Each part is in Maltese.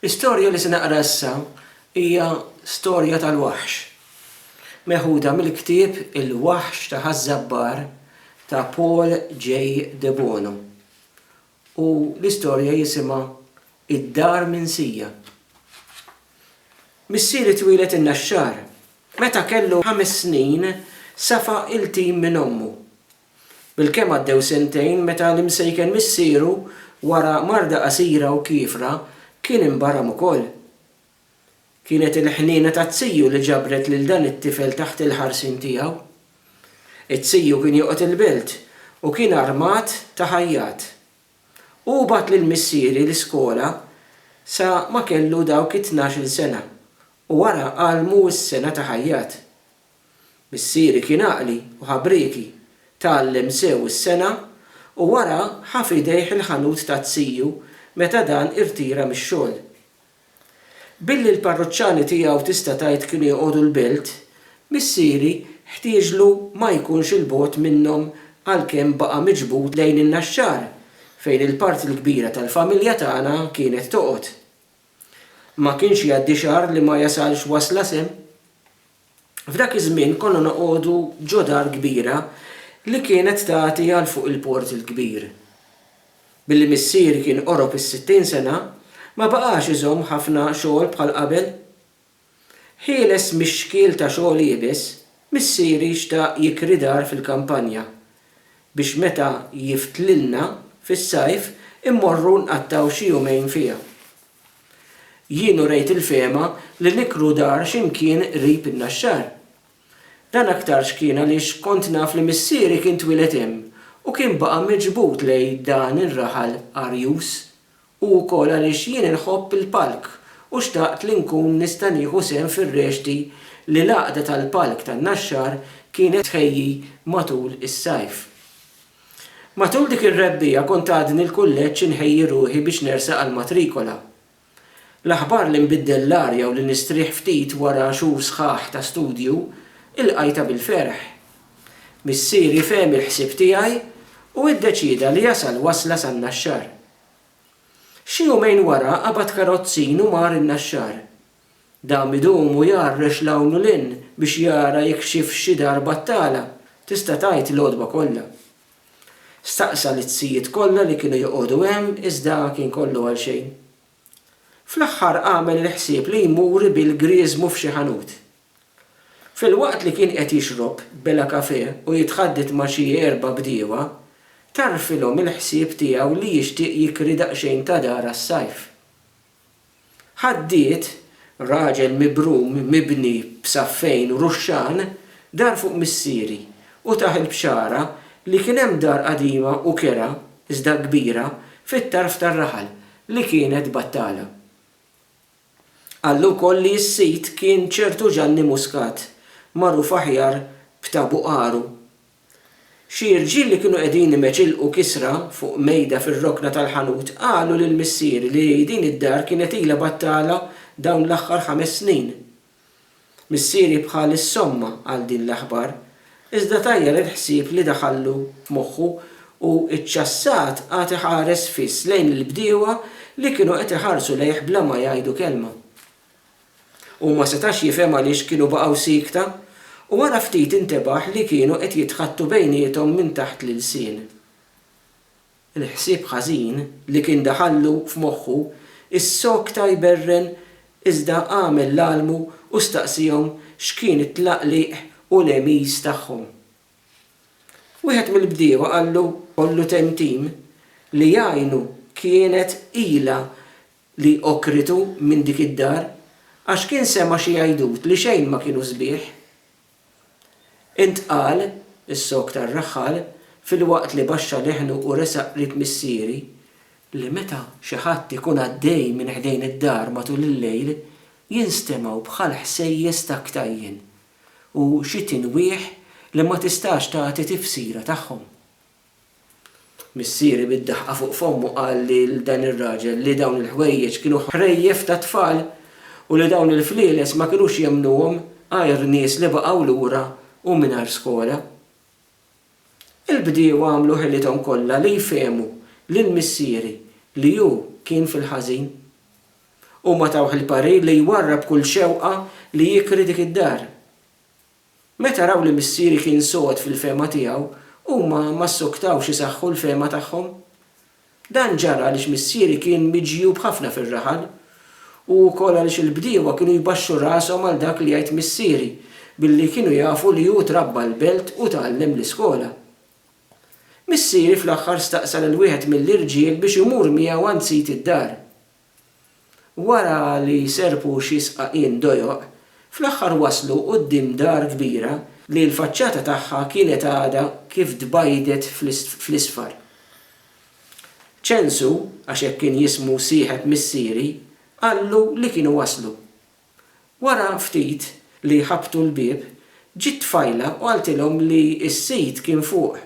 L-istorja li se naqra issa hija storja tal-waħx, meħuda mill-ktieb Il-Waħx ta' Ħaż-Żabbar ta' Paul J. Debono, u l-istorja jisimha Id-Dar Minsija. Missieri twieled in-Naxxar. Meta kellu ħames snin safa' il-tim minn ommu. Bilkemm għaddew sentejn meta l-imsejken missieru, wara marda qasira u kiefra, kien inbaram ukoll. Kienet il-ħniena taz-ziju li ġabret lil dan it-tifel taħt il-ħarsien tiegħu. Iz-ziju kien joqgħod il-belt u kien armat ta' ħajjat. Hu bagħat lil missieri l-iskola sa ma kellu dawk it-tnax-il sena u wara għallmu s-sengħa ta' ħajjat. Missieri kien għaqli u ħabrieki, tgħallem sew is-sengħa u wara ħa f'idejh il-ħanut ta' tiju meta dan irtira mix-xogħol. Billi l-parruċċani tiegħu tista' tgħid kienu joqogħdu l-Belt, missieri ħtieġlu ma jkunx 'il bogħod minnhom għalkemm baqa' miġbud lejn in-Naxxar fejn il-parti l-kbira tal-familja tagħna kienet toqgħod. Ma kienx jgħaddi xahar li ma jasalx wasla sehem. F'dak iż-żmien konna noqogħdu ġo dar kbira li kienet tagħti għal fuq il-Port il-Kbir. Billi missieri kien qorob is-sittin sena, ma baqax iżomm ħafna xogħol bħal qabel. Ħieles mix-xkiel ta' xogħol iebes, missieri xtaq jikri dar fil-kampanja biex meta jiftlilna fis-sajf immorru nqattgħu xi jumejn fiha. Jien urejt il-fehma li nikru dar xi mkien qrib in-Naxxar. Dan aktarx kien għaliex kont naf li missieri kien twieled hemm u kien baqa' miġbud lejn dan ir-raħal arjuż, u wkoll għaliex jien inħobb il-palk u xtaqt li nkun nista' nieħu sehem fir-rexti li l-Għaqda tal-Palk tan-Naxxar kienet tħejji matul is-sajf. Matul dik ir-rebbiegħa kont għadni l-kulleġġ inħejji ruħi biex nersaq għall-matrikola. L-aħbar li nbiddel l-arja u li nistrieħ ftit wara xhur sħaħ ta' studju ilqajtha bil-ferħ. Missieri fehem il-ħsieb tiegħi u iddeċieda li jasal wasla san-Naxxar. Xi jumejn wara qabad karozzin u mar in-Naxxar. Dam idum u jgħarrex 'l hawn u 'l hinn biex jara jekk xifx xi dar battala, tista' tgħid l-għodwa kollha. Staqsa lit-tzijiet kollha li kienu joqogħdu hemm iżda kien kollu għal xejn. Fl-aħħar għamel il-ħsieb li jmur ibil grieżmu f'xi ħanut. Filwaqt li kien qed jixrob bela kafè u jitħadded ma' xi erba' bdiewa, tarfilhom il-ħsieb tiegħu li jixtieq jikri daqsxejn ta' dar għas-sajf. Ħaddied, raġel mibrum, mibni b'saffejn u ruxxan, dar fuq missieri, u tah il-bxara li kien hemm dar qadima u kerha, iżda kbira, fit-tarf tar-raħal, li kienet battala. Qallu wkoll li s-sid kien ċertu Ġanni Muscat, magħruf aħjar b'Ta' Buqaru, Xi rġiel li kienu qegħdin imeċilqu kisra fuq mejda fir-rokna tal-ħanut qalu lil missieri li din id-dar kienet ilha battala dawn l-aħħar ħames snin. Missieri bħa li ssomma għal din l-aħbar, iżda tajjar il-ħsieb li daħallu f'moħħu u ċċassat qagħad iħares fiss lejn il-bdiewa li kienu qed iħarsu lejh bla ma jgħidu kelma. Hu ma setax jifhem għaliex kienu baqgħu siekta, u wara ftit intebaħ li kienu qed jitħaddtu bejniethom minn taħt l-ilsien. Il-ħsieb ħażin li kien daħallu f'moħħu issokta jberren iżda għamel l-almu u staqsiehom x'kien it-tlaqliq u l-għemiż tagħhom. Wieħed mill-bdiewa qallu, Ollu Temtim, li jgħinu kienet ilha li okkritu minn dik id-dar, għax kien sema' xi għajdut li xejn ma kienu sbieħ. Intqal, Is-sog tar-raħħal, filwaqt li baxxa leħnu u resaq qrib missieri, li meta xi ħadd ikun għaddej minn ħdejn id-dar matul il-lejl, jinstemgħu bħal ħsejjes ta' ktajjen u xi tinwieħ li ma tistax tagħti tifsira tagħhom. Missieri bid-daħqa fuq fommu qal lil dan ir-raġel li dawn il-ħwejjeġ kienu ħrejjef ta' tfal u li dawn il-flieles ma kinux jemmnuhom għajr nies li baqgħu lura u mingħajr skola. Il-bdiewa għamlu ħilithom kollha li jfehmu lil missieri li hu kien fil-ħażin. Huma tawh il-parir li jwarrab kull xewqa li jikri dik id-dar. Meta raw li missieri kien sod fil-fehma tiegħu, huma ma ssuktawx isaħħu l-fehma tagħhom. Dan ġara għaliex missieri kien miġjub ħafna fir-raħal, u wkoll għaliex il-bdiewa kienu jbaxxu rashom għal dak li jgħid missieri, billi kienu jafu li hu trabba l-belt u tgħallem l-iskola. Missieri fl-aħħar staqsa lil wieħed mill-irġiel biex imur miegħu għand sid id-dar. Wara li serrqu xi sqaqien dojoq, fl-aħħar waslu quddiem dar kbira li l-faċċata tagħha kienet għadha kif tbajdet fl-isfar. Ċensu, għax hekk kien jismu sieħeb missieri, qallu li kienu waslu. Wara ftit li ħabbtu l-bieb, ġiet tfajla u qaltilhom li s-sid kien fuq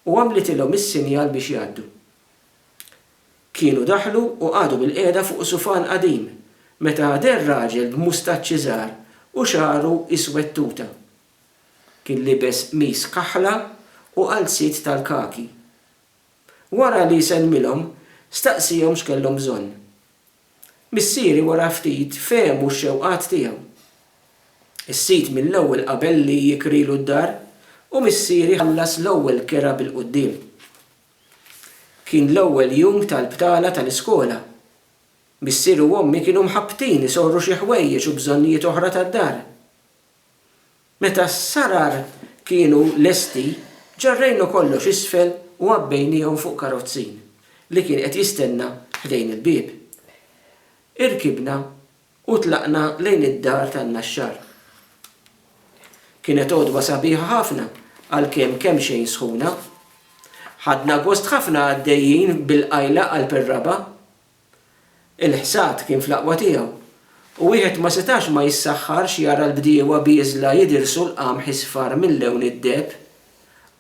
u għamlitilhom is-sinjal biex jgħaddu. Kienu daħlu u qagħdu bilqiegħda fuq sufan qadim meta deher raġel b'mustaċċi żgħar u xagħru iswed tuta. Kien libes qmis kaħla u qalziet tal-kaki. Wara li sellmilhom, staqsiehom x'kellhom bżonn. Missieri wara ftit fehmu x-xewqat tiegħu. Is-sid mill-ewwel qabel li jikrilu d-dar u missieri ħallas l-ewwel kera bil-quddiem. Kien l-ewwel jum tal-btala tal-iskola. Missier u ommi kienu mħabbtin isorru xi ħwejjeġ u bżonnijiet oħra tad-dar. Meta s-sarar kienu lesti, ġarrejna kollox isfel u għabbejniehom fuq karozzin li kien qed jistenna ħdejn il-bieb. Irkibna U tlaqna lejn id-dar tan-naxxar. Kienet għodwa sabiħa ħafna għalkemm kemxejn sħuna. Ħadna gost ħafna għaddejjin bil-qajla qalb ir-raba'. Il-ħsad kien fl-aqwa tiegħu u wieħed ma setax ma jissaħħarx jara l-bdiewa bieżla jidirsu l-qamħ isfar mil-lewn id-deheb,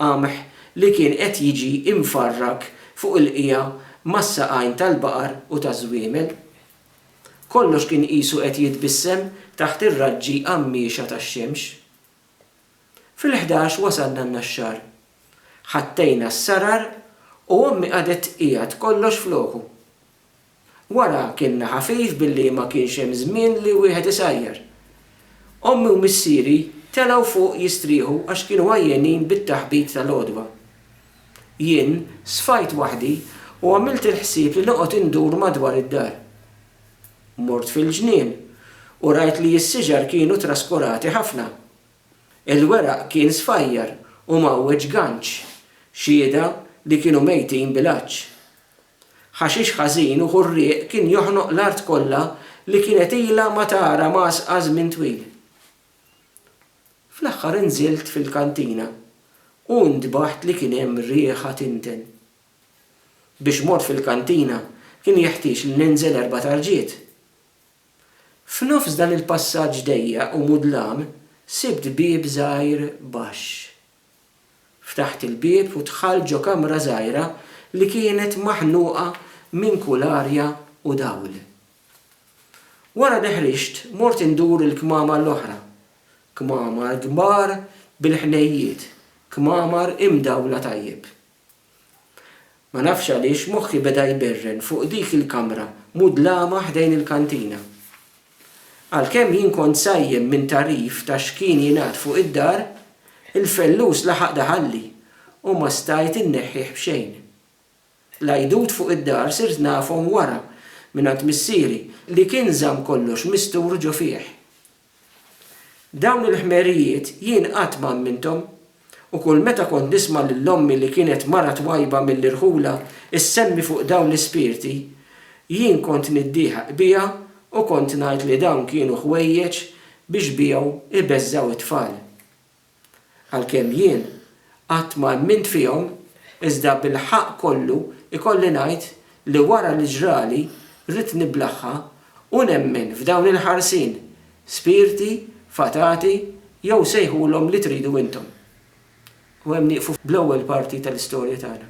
qamħ li kien qed jiġi imfarrak fuq il-qiegħa mas-saqajn tal-baqar u taż-żwiemel. Kollox kien qisu qed jitbissem taħt ir-raġġi għammiexa tax-xemx. Fil-ħdax wasalna n-Naxxar. Ħattejna s-sarar u ommi qagħdet tqiegħed kollox f'loku. Wara kilna ħafif billi ma kienx hemm żmien li wieħed isajjar. Ommi u missieri telgħu fuq jistrieħu għax kienu għajjenin bit-taħbit tal-għodwa. Jien sfajt waħdi u għamilt il-ħsieb li noqgħod indur madwar id-dar. Mort fil-ġnien u rajt li s-siġar kienu traskurati ħafna. Il-weraq kien sfajjar u mgħawweġ ganċ, xhieda li kienu mejtin bil-għatx. Ħaxix ħażin u ħurrieq kien joħnoq l-art kollha li kienet ilha ma tara mgħasqa żmien twil. Fl-aħħar inżilt fil-kantina u ntbaħt li kien hemm riħa tinten. Biex mort fil-kantina kien jeħtieġ li ninżel erba' tarġiet. F'nofs dan il-passaġġ dejjaq u mudlam sibt bieb żgħir baxx. Ftaħt il-bieb u dħalt ġo kamra żgħira li kienet maħnuqa minn kull arja u dawl. Wara li ħriġt, mort indur il-kmamar l-oħra. Kmamar kbar bil-ħnejjiet, kmamar imdawla tajjeb. Ma nafx għaliex moħħi beda jberren fuq dik il-kamra mudlama ħdejn il-kantina. Għalkemm jien kont sajjem minn tagħrif ta' x'kien jingħad fuq id-dar, il-fellus laħaq daħalli u ma stajt inneħħih b'xejn. L-għidut fuq id-dar sirt nafhom wara, mingħand missieri, li kien żamm kollox mistur ġo fih. Dawn il-ħmerijiet jien qatt ma amminthom, u kull meta kont nisma' lil ommi li kienet mara twajba mill-irħula ssemmi fuq dawn l-ispirti, jien kont niddieħaq biha u kont ngħid li dawn kienu ħwejjeġ biex bihom ibeżżgħu t-tfal. Għalkemm jien qatt ma emmint fihom, iżda bil-ħaqq kollu jkolli ngħid li wara li ġrali ridt niblaħħa u nemmen f'dawn il-ħarsin, spirti, fatati jew sejħulhom li tridu intom. U hemm nieqfu bl-ewwel parti tal-istorja tagħna.